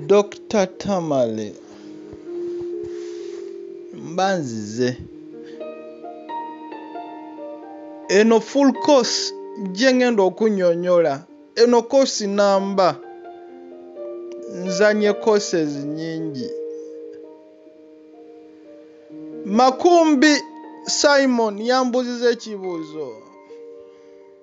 Dokita Tamale mba nzize eno full course gye ngenda okunyonyola eno kosi namba nzanye courses nyingi makumbi simon yambuziza ekibuuzo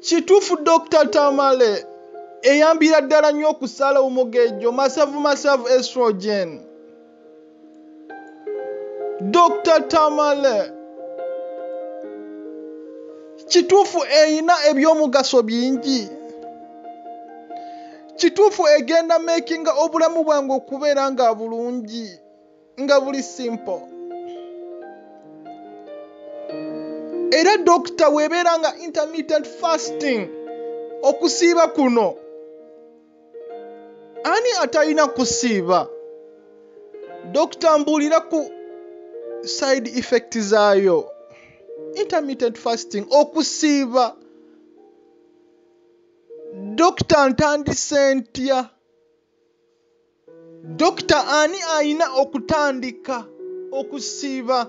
kituufu dr tamale eyambira ddala nnyo okusala omugejjo masavu masavu estrogen dr tamale kituufu erina ebyomugaso bingi kituufu egenda makinga obulamu bwange okubeera nga bulungi nga buli simple era dokita webeera nga intermittent fasting okusiiba kuno ani atalina kusiiba dokita mbuulira ku side effect zaayo intermittent fasting okusiiba dokita ntandise ntya dokita ani alina okutandika okusiiba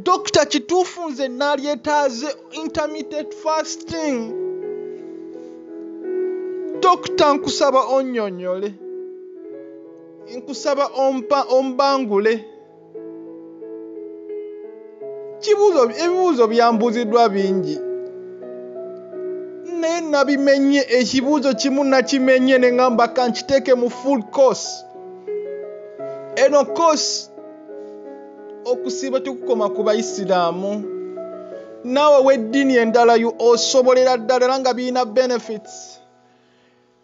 dokita kituufu nze nalyetaaze intermittent fasting dokita nkusaba onyonyole nkusaba ombangule kibuuzo ebibuuzo byambuuziddwa bingi naye nabimenye ekibuuzo kimu nakimenye ne ngamba kankiteeke mu full course eno course okusiiba tekukoma ku bayisiraamu naawe w'eddiini endala osobolera ddala era nga birina benefits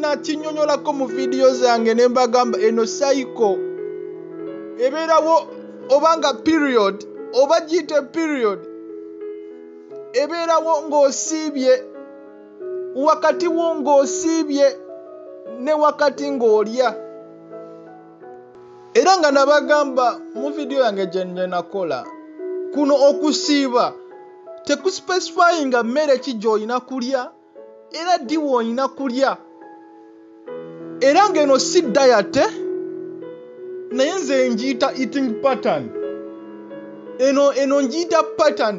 nakinyonyolako mu vidiyo zange ne mbagamba eno saiko ebeerawo oba nga period oba giyite period ebeerawo ng'osiibye wakati wo ng'osiibye ne wakati ng'olya era nga nabagamba mu vidiyo yange gyenakola kuno okusiiba tekuspecifyinga mmere ki gy'olina kulya era ddi woolina kulya era ng'eno si dayate naye nze ngiyita eating pattern eno eno ngiyita pattern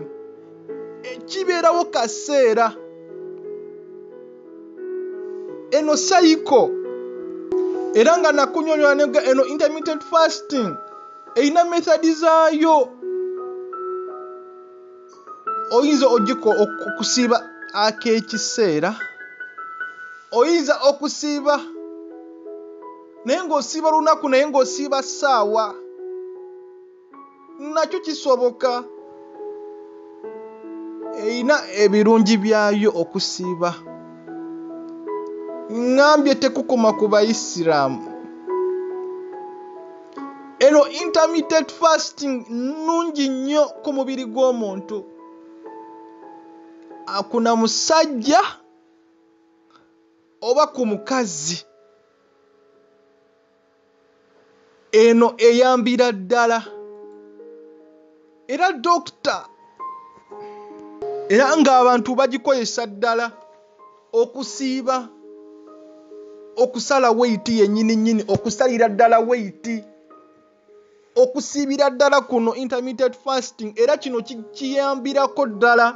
e, kibeerawo kaseera eno sayiko era nga nakunyonyola nega eno intermittent fasting erina method zaayo oyinza okusiiba ak'ekiseera oyinza okusiiba naye ng'osiiba lunaku naye ng'osiiba ssaawa nakyo kisoboka erina ebirungi byayo okusiiba ŋŋambye tekukoma ku bayisiraamu eno intermittent fasting nnungi nnyo ku mubiri gw'omuntu akuna musajja oba ku mukazi eno eyambira ddala era dokita era ng'abantu bagikozesa ddala okusiiba okusala weyiti yennyini nnyini okusalira ddala weyiti okusiibira ddala kuno intermittent fasting era kino kiyambirako ddala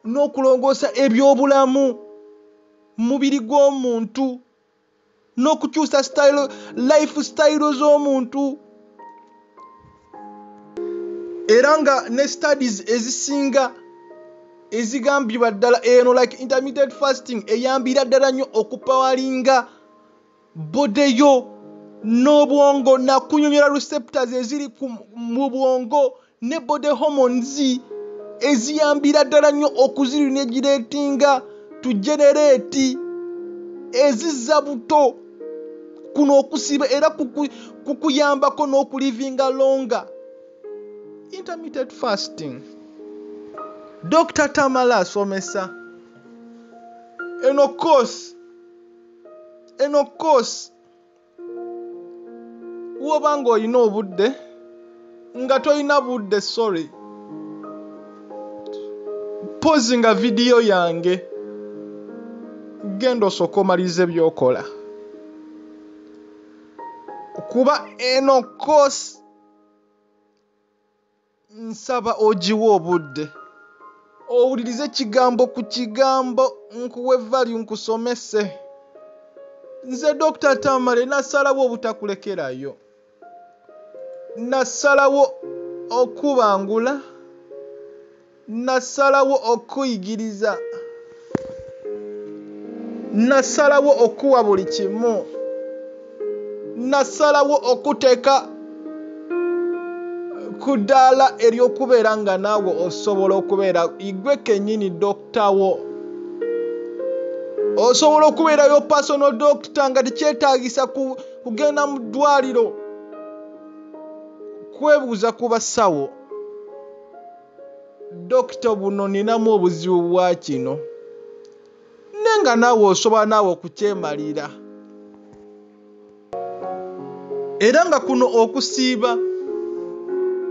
n'okulongoosa ebyobulamu mubiri gw'omuntu n'okukyusa life style z'omuntu era nga ne studies ezisinga ezigambibwa ddala eno like intermittent fasting eyambira ddala nnyo okupawalinga bodeyo n'obwongo nakunyonyola receptors eziri mu bwongo ne body hormones eziyambira ddala nnyo okuzirinegiretinga tujenereeti ezizza buto. Kuno okusiiba era kukuyambako n'okulivinga longa intermittent fasting. Dokita Tamala asomesa eno course eno course. woba nga olina obudde nga tolina budde sorry pozi nga vidiyo yange genda osooka omaliriza ebyokola kuba eno kosi Nsaba ogiwe obudde owulirize kigambo ku kigambo nkuwe value nkusomese. Nze Dokita Tamale nasalawo obutakulekerayo. Nasalawo okubangula. Nnasalawo okukuyigiriza. Nnasalawo okukuwa buli kimu. Nnasalawo okukuteeka ku ddaala ery'okubeera nga naawe osobola okubeera igwe kennyini dokita wo. Osobola okubeera yo personal doctor nga tekyetaagisa kugenda mu ddwaliro kwebuuza ku basawo. Dokita buno ninamu obuzibu bwa kino ne nga naawe osobola naawe okukyemalira era nga kuno okusiiba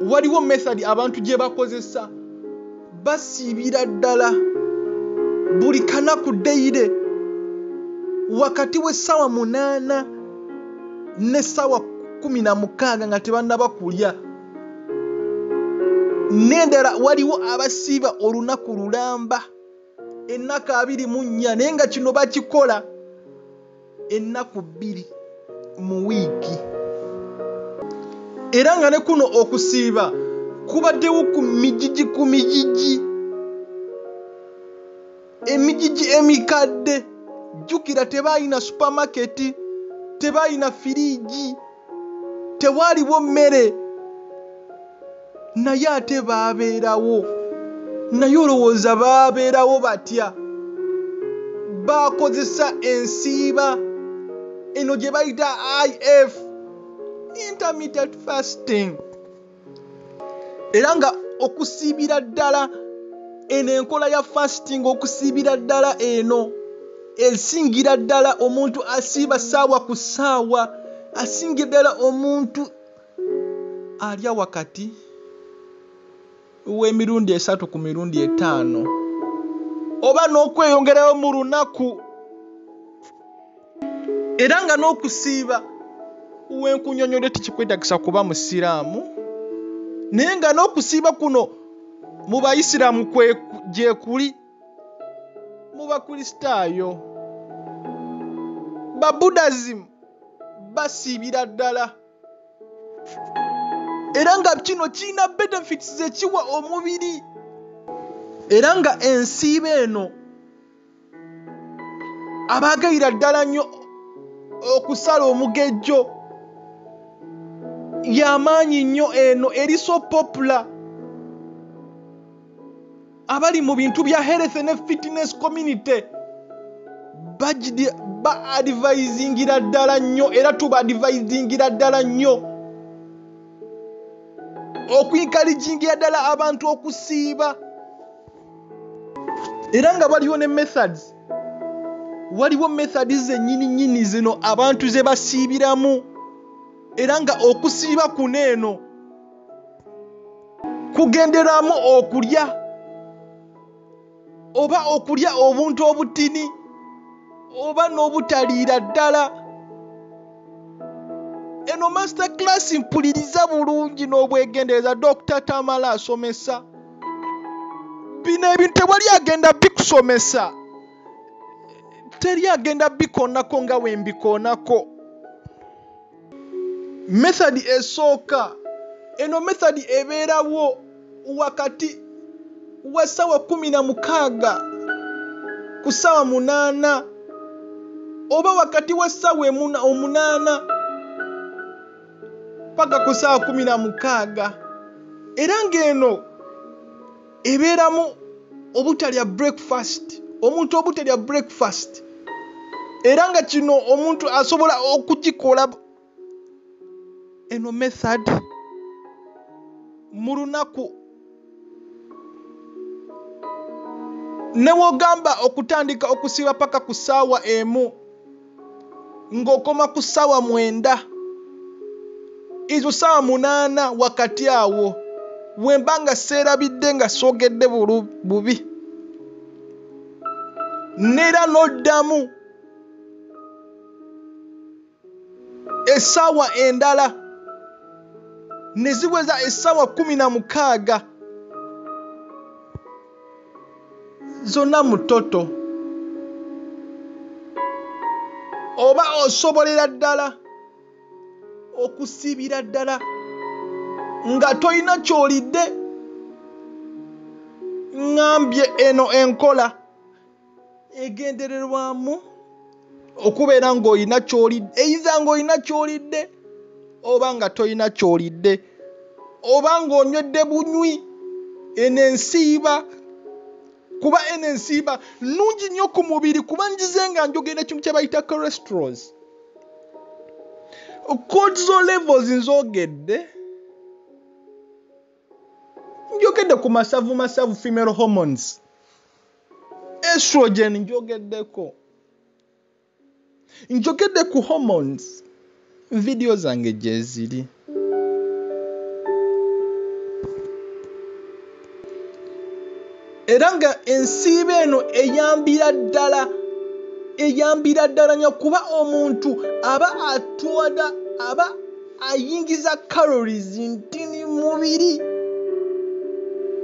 waliwo method abantu gye bakozesa basiibira ddala buli kanaku dayire wakati w'essaawa munaana n'essaawa kkumi na mukaaga nga tebannaba kulya n'endala waliwo abasiiba olunaku lulamba ennaku abiri mu nnya naye nga kino bakikola ennaku bbiri mu wiiki era nga ne kuno okusiiba kubaddewo ku mijiji ku mijiji emigigi emikadde jjukira tebaalina supamaketi tebaalina firiigi tewaaliwo mmere naye ate baabeerawo naye olowooza baabeerawo batya baakozesa ensiiba eno gye bayita if intermittent fasting era nga okusiibira ddala eno enkola ya fasting okusiibira ddala eno esingira ddala omuntu asiiba saawa ku saawa asingira ddala omuntu alya wakati w'emirundi esatu ku mirundi etaano oba n'okweyongerayo mu lunaku era nga n'okusiiba wenkunyonyole tikikwetagisa kuba musiraamu naye nga n'okusiiba kuno mu bayisiraamu gyekuli mu bakristaayo babuddhism basiibira ddala era nga kino kirina benefits zekiwa omubiri era nga ensiiba eno abaagayira ddala nnyo okusala omugejjo yamaanyi nnyo eno eri so popula abali mu bintu bya health ne fitness community ba advisingira ddala nnyo era tuba advisingira ddala nnyo okuinkaligingira ddala abantu okusiiba era nga waliwo ne methods waliwo methodi zenyini nyini zino abantu ze basiibiramu era nga okusiiba kuno eno kugenderamu okulya oba okulya obuntu obutini oba n'obutaliira ddala eno master class mpuliriza bulungi n'obwegendereza dr tamala asomesa bino ebintu tewali agenda bikusomesa teri agenda bikoonako nga wembikoonako methodi esooka eno methodi ebeerawo wakati wa ssaawa kumi na mukaaga ku ssaawa munaana oba wakati wa ssaawa omunaana paka ku saa kumi na mukaaga era ng'eno ebeeramu obutalya breakfast omuntu obutalya breakfast era nga kino omuntu asobola okukikola eno method mu lunaku newogamba okutandika okusiba paka ku saawa emu ng'okoma ku ssaawa mwenda ezo ssaawa munaana wakati awo we mba nga seerabidde nga soogedde bubi neera n'oddamu essaawa endala ne ziweza essaawa kkumi na mukaaga zonna mu toto oba osobolera ddala okusiibira ddala nga tolina kyolidde ŋambye eno enkola egendererwamu okubeera ng'olina kyolidde eyiza ng'olina kyolidde oba nga tolina kyolidde oba ng'onywedde bunywi eno ensiiba kuba eno ensiiba nnungi nnyo ku mubiri kuba njize nga njogera ekintu kye bayita corestros cortiso levels nzogedde njogedde ku masavu masavu female hormones estrogen njogeddeko njogedde ku hormones vidiyo zange gyeziri era nga ensiiba eno eyambira ddala eyambira ddala nyo kuba omuntu aba atwada aba ayingiza calories ntini mubiri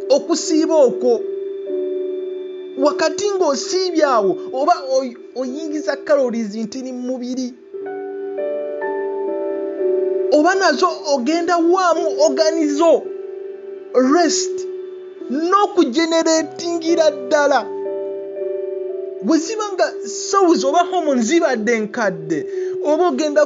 okusiiba okwo wakati ng'osiibye awo oba oyingiza calories ntini mubiri oba nazo ogenda waamu oganizo rest n'okugeneratingira ddala bwe ziba nga souls oba homo zibadde nkadde oba ogenda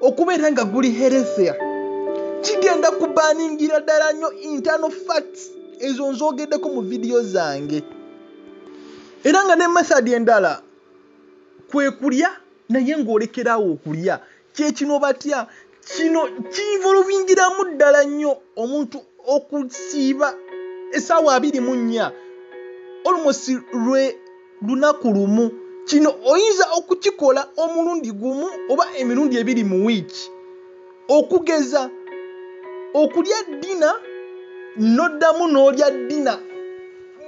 okubeera nga guli herethea kigenda kubaningira ddala nnyo internal facts ezo nzogeddeko mu vidiyo zange era nga ne method endala kwe kulya naye ng'olekerawo okulya kyekino batya kino kiinvolvingiramu ddala nnyo omuntu okusiiba esaawa abiri mu nnya almost lwe lunaku lumu. Kino oyinza okukikola omulundi gumu oba emirundi ebiri mu wiiki. Okugeza, okulya ddina n'oddamu n'olya ddina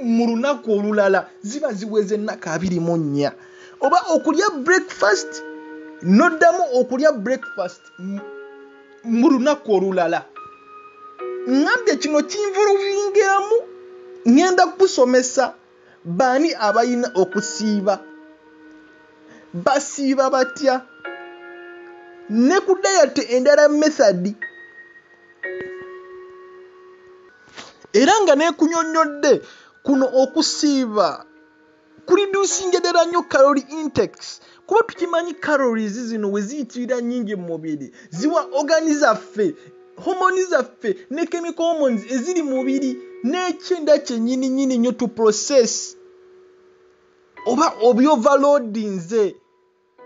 mu lunaku olulala ziba ziweze ennaku abiri mu nnya. Oba okulya breakfast n'oddamu okulya breakfast mu lunaku olulala. Ŋŋambye kino kinvulungiramu ŋŋenda kukusomesa. Baani abalina okusiiba? Basiiba batya? Ne ku dayate endala methadi era nga nekunyonyodde kuno okusiiba kulidusinga ddala nnyo kalori intex kuba tukimanyi calories zino we ziyitirira nnyingi mu mubiri ziwa ogani zaffe homoni zaffe ne chemical hormones eziri mubiri n'ekyenda kyennyini nyini nnyo to process oba obyovalodinze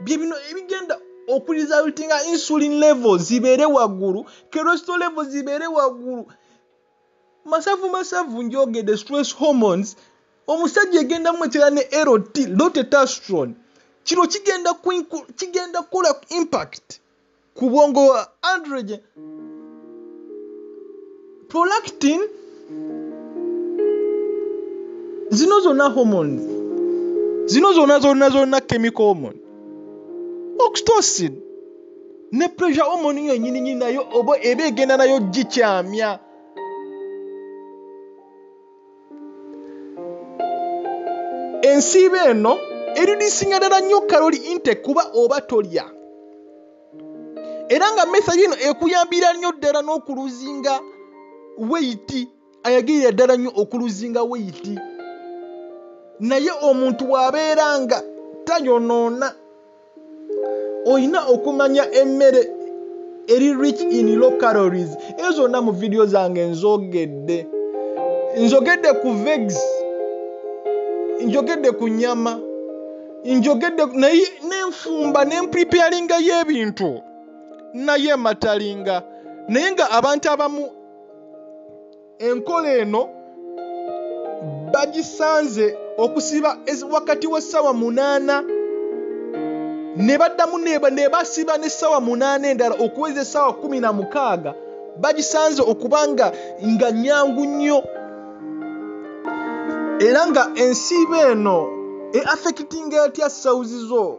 bye bino ebigenda okurizaltinga insulin level zibeere waggulu keresto level zibeere waggulu Masavu masavu njogede stress hormones omusajja egenda mwetera ne LT lotetastron kino kigenda kigenda kola impact ku bwongo wa androgen prolactin zino zona hormones zino zona zona zona chemical hormone oxytocin ne pressure hormone yo nyininyini nayo oba eba egenda nayo gikyamya ensiiba eno eridisinga ddala nnyo kaloli inte kuba oba tolya era nga mesa yino ekuyambira nnyo ddala n'okuluzinga weyiti ayagirira ddala nnyo okuluzinga weyiti naye omuntu wabeera nga tayonoona olina okumanya emmere eri rich in low calories eyo zonna mu vidiyo zange nzogedde nzogedde ku vegs njogedde ku nyama njogedde naye nenfumba nempreparinga yo ebintu naye matalinga naye nga abantu abamu enkola eno bagisanze okusiba wakati w'essaawa munaana ne baddamu ne basiba n'essaawa munaana endala okuweza essaawa kumi na mukaaga bagisanze okuba nga nga nyangu nnyo era nga ensiiba eno eaffectinga etya sawuzi zo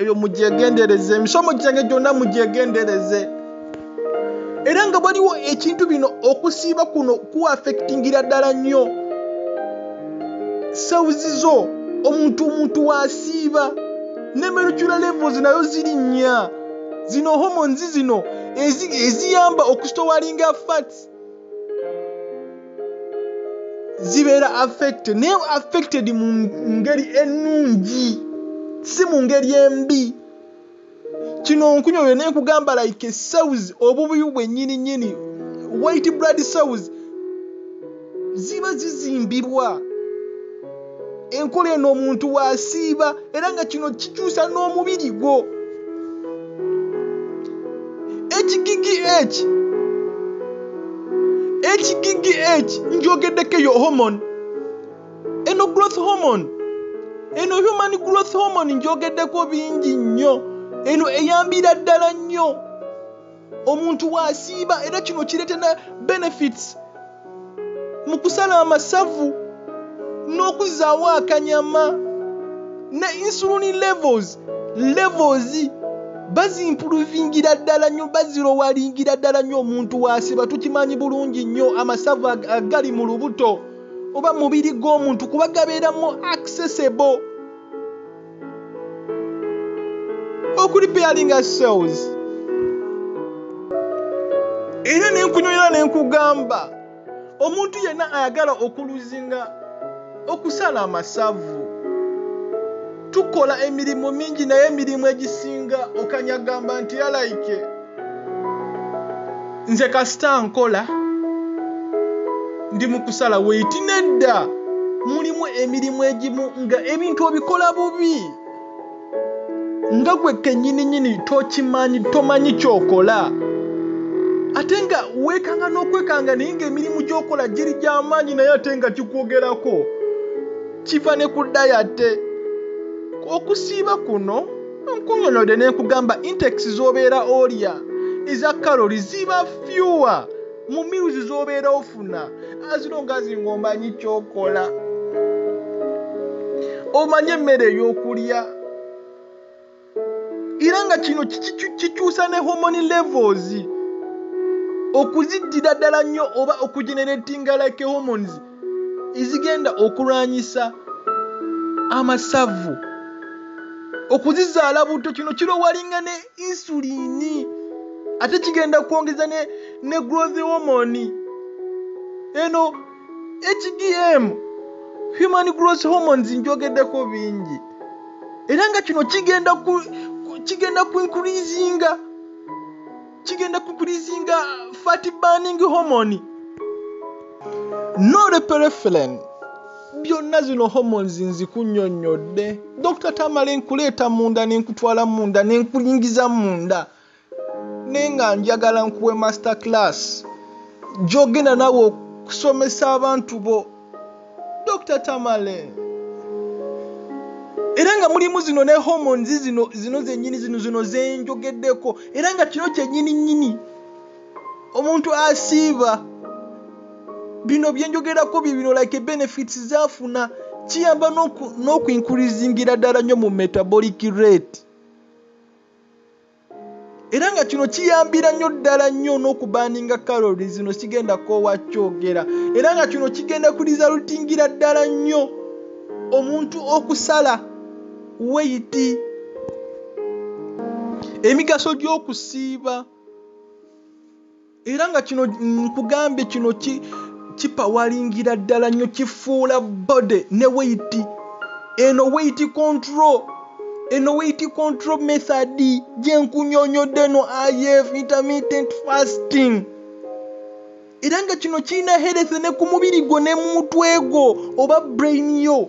ebyo mugyegendereze emisomo gyange gyonna mugyegendereze era nga waliwo ekintu bino okusiiba kuno kuafectingira ddala nnyo sewuzi zo omuntu omuntu wasiiba nemerukira levels nayo ziri nnya zino homonzi zino eziyamba okustowalinga fats zibeera affected naye affected mu ngeri ennungi si mu ngeri embi kino nkunyolwe naye kugamba like cells obubuyu bwennyini nnyini white blood cells ziba zizimbirwa enkola eno omuntu waasiiba era nga kino kikyusa n'omubiri gwo ekigigi eki ekigigi eki njogeddeko eyo homon eno growth homon eno human growth homon njogeddeko bingi nnyo eno eyambira ddala nnyo omuntu wasiiba era kino kirete na benefits mu kusala amasavu n'okuzaawo akanyama ne insulini levels levels bazimpuluvingira ddala nnyo bazirowalingira ddala nnyo omuntu wasiba tukimanyi bulungi nnyo amasavu agali mu lubuto oba mubiri gw'omuntu kuba gabeeramu accessible okulipeyalinga cells era nenkunyonyola nenkugamba omuntu yenna ayagala okuluzinga okusala amasavu tukola emirimu mingi naye emirimu egisinga okanyagamba nti yalaike nze kasita nkola ndi mu kusala weiti nedda mulimu emirimu egimu nga ebintu obikola bubi nga gwe kenyininyini tokimanyi tomanyi kyokola ate nga weekanga n'okwekanga naye ngaemirimu gyokola giri gy'amaanyi naye ate nga kikwogerako kiva ne ku dayate okusiiba kuno Nkunyonode nenkugamba intex zobera olya eza calories ziba fewer mu meals zobera ofuna as long as ngomanyi kyokola omanyi emmere eyokulya era nga kino kikyusa ne homoni levels okuziddira ddala nnyo oba okugeneratinga like homons ezigenda okulwanyisa amasavu okuzizaala butto kino kirowalinga ne insuliini ate kigenda kwongeza ne, ne growth hormone eno hgm human growth hormones njogedeko bingi era nga kino kigenda ku, kigenda ku increasinga kigenda kukulizinga fat burning hormone noreperefelen byonna zino hormones nzikunyonyodde dr tamale nkuleeta munda nenkutwala munda nenkulingiza munda naye nga njagala nkuwe master class gyogenda nawe okusomesa abantu bo dr tamale era nga mulimu zino ne hormones zino zino zenyini zino zino zenjogeddeko era nga kino kyenyini nyini omuntu asiiba bino byenjogerako bibino like benefits zafuna kiyamba n'okuinkurizingira ddala nnyo mu metabolic rate era nga kino kiyambira nnyo ddala nnyo n'okubaaninga kalori zino kigenda koowa kyogera era nga kino kigenda kuliza lutingira ddala nnyo omuntu okusala weyiti emigaso gy'okusiiba era nga kino nkugambye kino ki kipawalingira ddala nnyo kifuula body ne weiti eno weiti control eno weiti control method gyenkunyonyodde eno if intermittent fasting era nga kino kirina hereth ne ku mubiri gwo ne mu mutwe gwo oba brain yo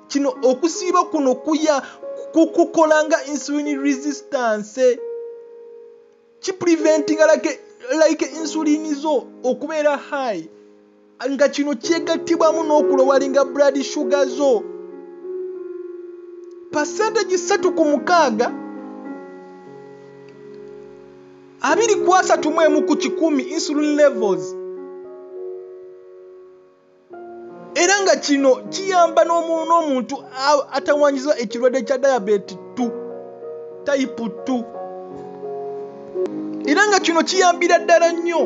Kino okusiiba kuno kuya kukukola nga insulin resistance kipreventinga like, like insulin zo okubeera high nga kino kyegattibwamu n'okulowalinga blood sugar zo pasentegi ssatu ku mukaaga abiri ku asatu mu emu ku kikumi insulin levels era nga kino kiyamba n'omuntu atawanyiza ekirwadde kya diabeeti t tayipu t era nga kino kiyambira ddala nnyo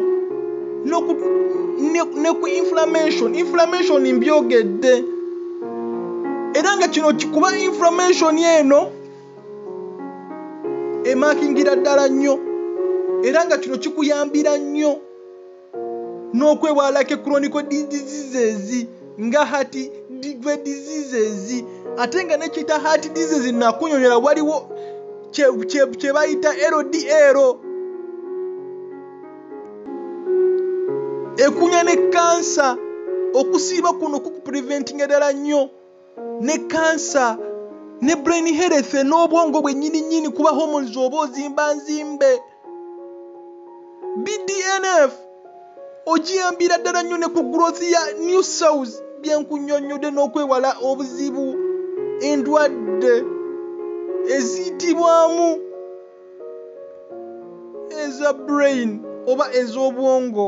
ne ku inflammation inflammation mbyogedde era nga kino kikuba inflammation eno emakingira ddala nnyo era nga kino kikuyambira nnyo n'okwewala ke chronical diseases nga heart degree diseases ate nga nekyita heart disease nakunyonyola waliwo kyebayita ldl ekunya ne kansa okusiiba kuno kukupreventinga ddala nnyo ne kansa ne brain health n'obwongo bwennyini nnyini kuba hormones oba ozimba nzimbe bdnf ogiyambira ddala nnyo ne ku growth ya new cells byenkunyonnyodde n'okwewala obuzibu endwadde eziyitibwamu eza brain oba ez'obwongo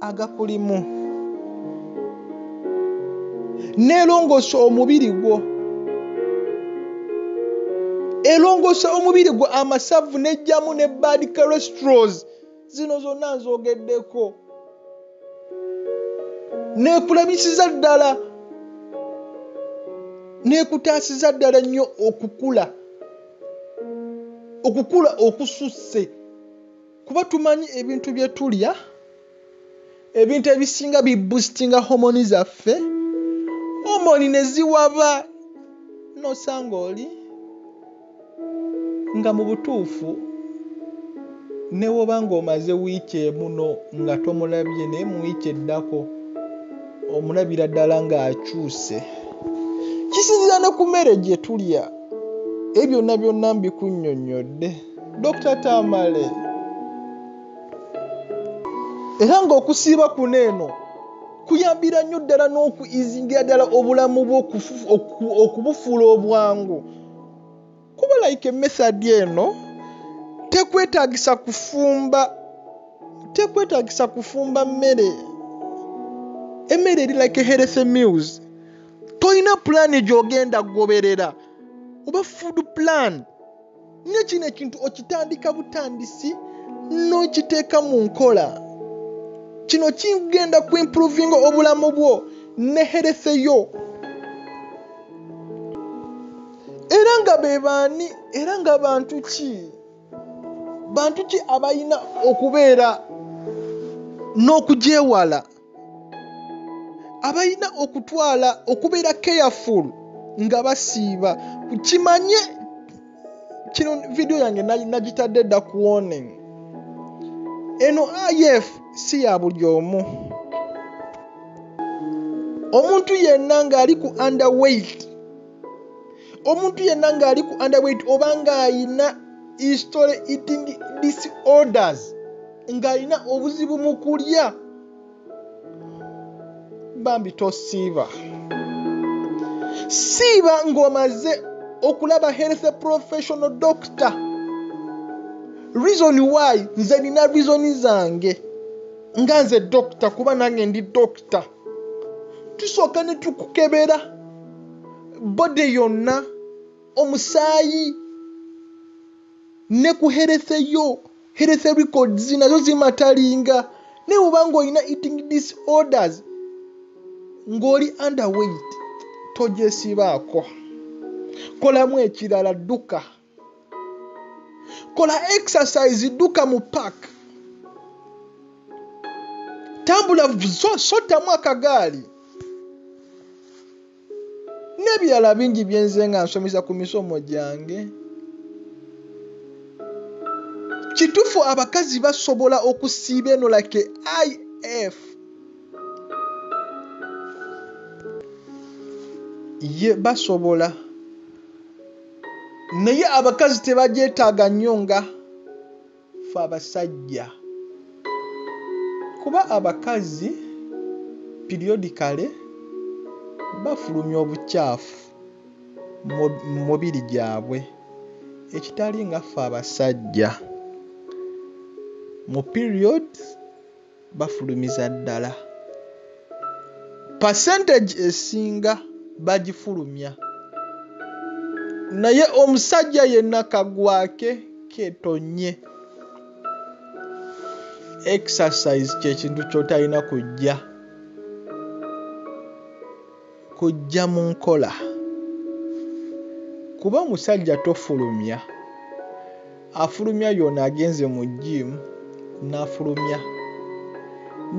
agakulimu n'erongoosa omubiri gwo erongoosa omubiri gwo amasavu n'ejjamu ne bad cholestros zino zonna nzogeddeko neekulabisiza ddala neekutaasiza ddala nnyo okukula okukula okususse Kuba tumanyi ebintu bye tulya, ebintu ebisinga bi boostinga homoni zaffe, homoni ne ziwaba n'osanga oli nga mu butuufu ne bw'oba ng'omaze wiiki emu nga tomulabye naye mu wiiki eddako omulabira ddala ng'akyuse. Kisinziira ne ku mmere gye tulya. Ebyo byonna byonna mbikunnyonnyodde. Dokita Tamale era ng'okusiiba kuno eno kuyambira nnyo ddala n'okuizingira ddala obulamu bwo okubufuula obwangu kuba like emethadi eno tekwetagisa kufumba tekwetagisa kufumba mmere emmere eri like healthy meals tolina pulaani gy'ogenda goberera oba food plan ne kino ekintu okitandika butandisi n'okiteeka mu nkola kino kigenda ku improvinga obulamu bwo ne herese yo era nga be baani era nga bantu ki bantu ki abalina okubeera n'okugyewala abalina okutwala okubeera careful nga basiiba kimanye kino vidiyo yange nagitadde dda ku warning eno if si ya buli omu omuntu yenna ng'ali ku underweight omuntu yenna ng'ali ku underweight oba ng'alina history eating disorders ng'alina obuzibu mu kulya bambi tosiiba siiba ng'omaze okulaba health professional doctor reason why nze nina reason zange nga nze dokita kuba nange ndi dokita tusooka ne tukukebera body yonna omusaayi ne ku health yo health records nazo zimatalinga naye oba ng'olina eating disorders ng'oli underweight togyesibaako kolamu ekirala dduka kola exercise duka mu park tambula sotamu akagaali n'ebirala bingi byenze nga nsomesa ku misomo gyange kitufu abakazi basobola okusiiba eno like if ye basobola naye abakazi tebagyetaaga nnyo nga fe abasajja kuba abakazi periodicale bafulumya obukyafu mu mubiri gyabwe ekitali nga fe abasajja mu period. bafulumiza ddala percentage esinga bagifulumya naye omusajja yenna kagwake ketonye exercise kyekintu kyotalina kujja kujja mu nkola kuba omusajja tofulumya afulumya yoona agenze mu gym nafulumya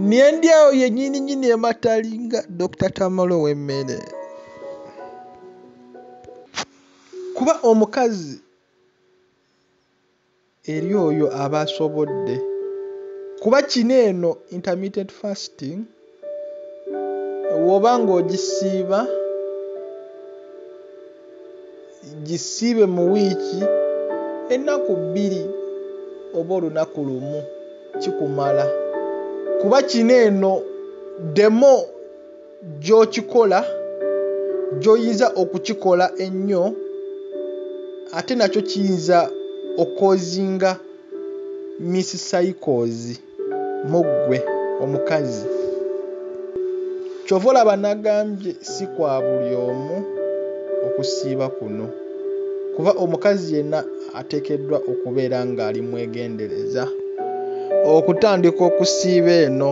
nendyawo yenyininyini ematalinga dr tamale owemmere kuba omukazi eri oyo aba asobodde kuba kino eno intermittent fasting woba nga ogisiiba gisiibe mu wiiki ennaku bbiri oba olunaku lumu kikumala kuba kino eno demo gy'okikola, gy'oyinza okukikola ennyo ate nakyo kiyinza okukoozinga misscycles mu ggwe omukazi. Kyova olaba nagambye si kwa buli omu okusiiba kuno kuba omukazi yenna ateekeddwa okubeera ng'ali mwegendereza okutandika okusiiba eno.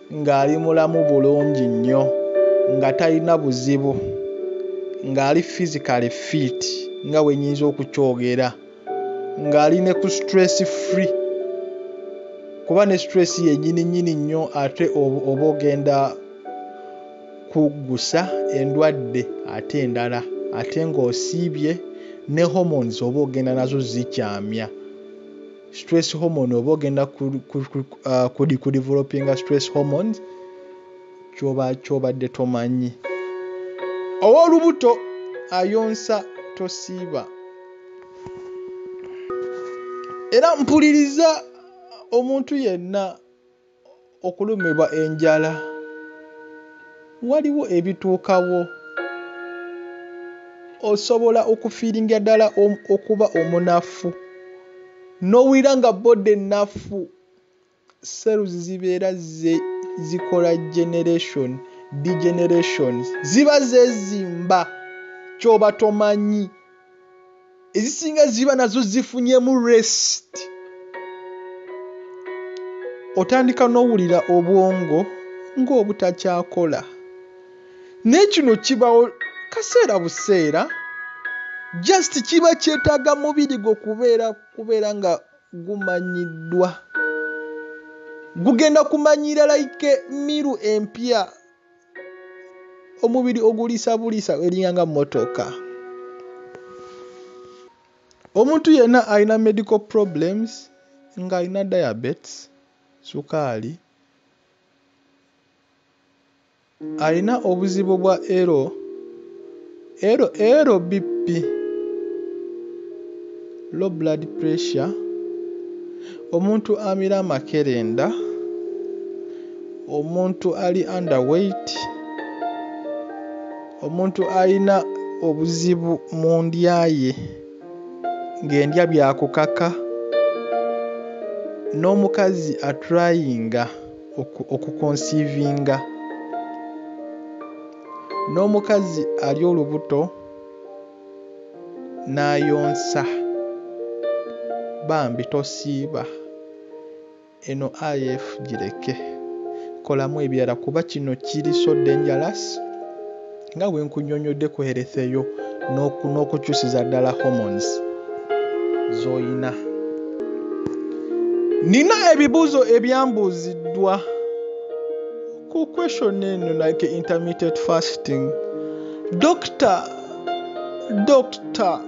ng'ali mulamu bulungi nnyo nga talina buzibu ng'ali physically fit nga bwe nnyinza okukyogera ng'ali ne ku stress free kuba ne stress yennyini nnyini nnyo ate oba ogenda kuggusa endwadde ate endala ate ng'osiibye ne hormones oba ogenda nazo zikyamya stress hormone oba ogenda kudi kudevelopinga stress hormones kyoba kyobadde tomanyi owolubuto ayonsa tosiiba era mpuliriza omuntu yenna okulumibwa enjala waliwo ebituukawo osobola okufiiringira ddala okuba omunafu n'owulira nga bbodda ennafu seeruzi zibeera zikola generation degeneration ziba zeezimba ky'oba tomanyi. ezisinga ziba nazo zifunyemu rest otandika n'owulira obwongo ng'obutakyakola naye kino kibawo kaseera buseera just kiba kyetaaga mubiri gwo kubeera kubeera nga gumanyiddwa gugenda kumanyira like miru empya omubiri oguliisa buliisa eringa nga mmotoka omuntu yenna alina medical problems ng'alina diabetes sukaali alina obuzibu bwa ero Elo elo BP, low blood pressure, omuntu amira amakerenda, omuntu ali under weight, omuntu alina obuzibu mu ndya ye ng'endya bya kukaka n'omukazi aturayinga okukonsiivinga. n'omukazi ali olubuto n'ayonsa bambi tosiiba eno IF gireke kolamu ebirala kuba kino kiri so dangerous nga bwe nkunyonyodde ku health eyo n'okukyusiza ddala hormones z'olina nina ebibuuzo ebyambuuziddwa ku question eno like intermittent fasting dokita dokita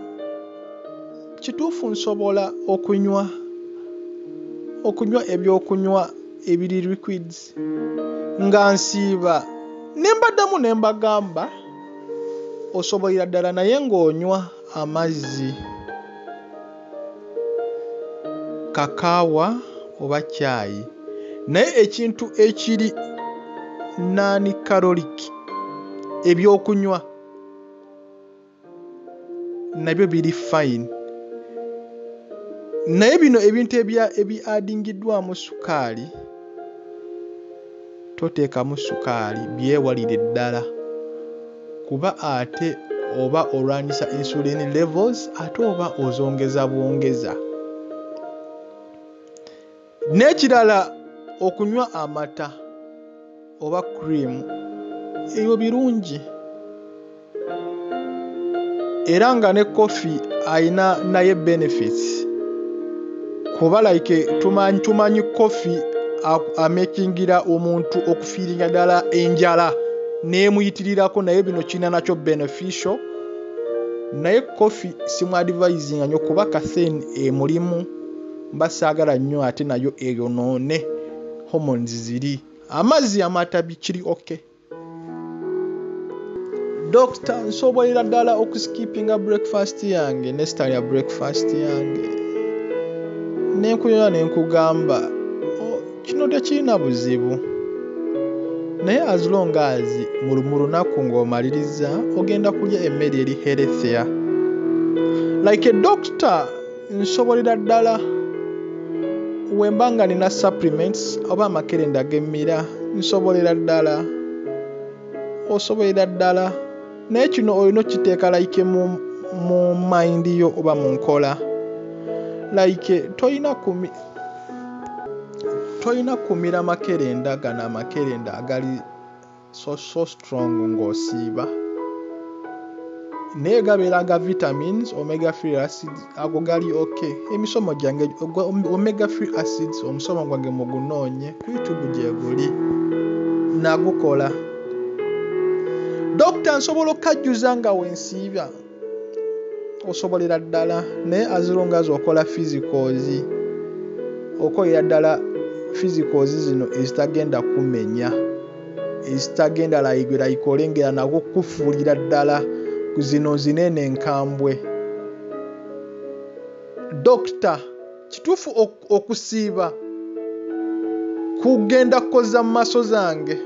kituufu nsobola okunywa okunywa ebyokunywa ebiri liquids nga nsiiba ne mbaddamu ne mbagamba osobolera ddala naye ng'onywa amazzi kakaawa oba caayi naye ekintu ekiri naani kaloliki ebyokunywa nabyo biri fine naye bino ebintu ebyadingiddwamu sukaali toteekamu sukaali byewalire ddala kuba ate oba olwanyisa insulin levels ate oba ozongeza bwongeza. N'ekirala okunywa amata oba cream ebyo birungi. era nga ne koffi alina naye benefits kuba like tumanyi tumanyi koffi amekingira omuntu okufiiringa ddala enjala neemuyitirirako naye bino kirina nakyo beneficial naye koffi simuadivisinga nyo kuba kathen emulimu mba saagala nnyo ate nayo eyonoone hormones ziri amazzi amatabi kiri okay dokita nsobolera ddala okuskipinga breakfast yange nesitalya breakfast yange nenkuyola nenkugamba oh, kino tekirina buzibu naye as long as mu lunaku ng'omaliriza ogenda kulya emmere eri herethia like a doctor nsobolera ddala wemba nga nina supplements oba amakerenda agemmira nsobolera ddala osobolera ddala naye kino olina okiteeka like mu mu mind yo oba mu nkola like tolina kumi tolina kumira makerenda gano amakerenda agali so so strong ng'osiiba naye gabeera ga vitamins omega free acids ago gali ok emisomo gyange omega free acids omusomo gwange mugunoonye ku youtube gyeguli nagukola dokita nsobola okukajjuza nga wensiiba osobolera ddala naye azilonga zi okola physicals okolera ddala physicals zino ezitagenda kumenya ezitagenda layigwera ikolengera nako kukufuulira ddala zino zinene enkambwe dokita kituufu okusiiba kugenda kukoza mu maaso zange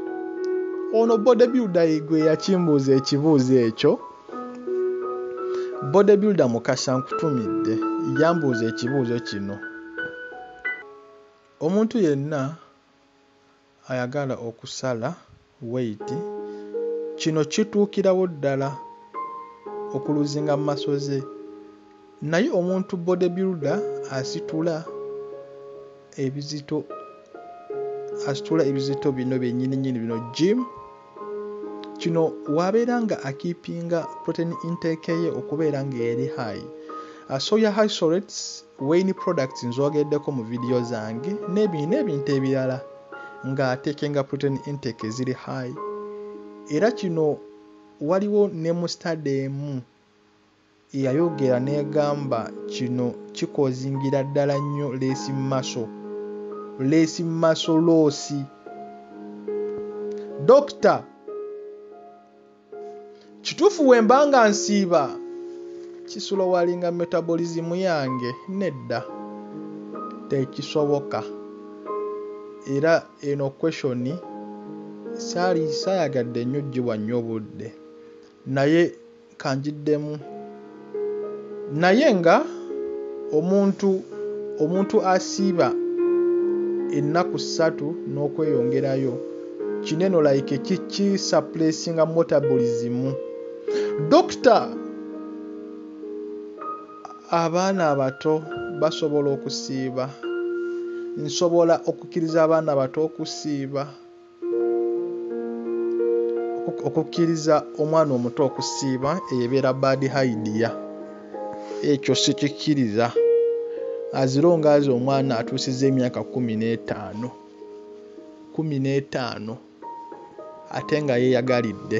ono bodebuilda igwe yakimbuuza ekibuuzo ekyo Bodybuilder Mukasa nkutumidde yambuuza ekibuuzo kino, Omuntu yenna ayagala okusala weight kino kituukirawo ddala okuluzinga muscle ze? Naye omuntu body builder asitula ebizito asitula ebizito bino byenyini nyini bino gym kino wabeera nga akipinga protein intake ye okubeera nga eri high uh, soya high sorets wain products nzogeddeko mu vidiyo zange nebino ebintu ebirala nga atekenga protein intake eziri high era kino waliwo ne mustade emu yayogera negamba kino kikozingira ddala nnyo leesi maso leesi maso loosi Dokita kituufu wemba nga nsiiba kisolowalinga metabolism yange nedda tekisoboka era eno question saali sayagadde nnyo giwa nnyo budde naye kanjiddemu naye nga omuntu omuntu asiiba ennaku ssatu n'okweyongerayo kineno like kiki suppressinga metabolism dokita abaana abato basobola okusiiba nsobola okukkiriza abaana bato okusiiba okukkiriza omwana omuto okusiiba eyo ebeera baadi haidiya ekyo sikikkiriza azira ongaazi omwana atuusiza emyaka kumi n'etaano kumi n'etaano ate nga yeeyagalidde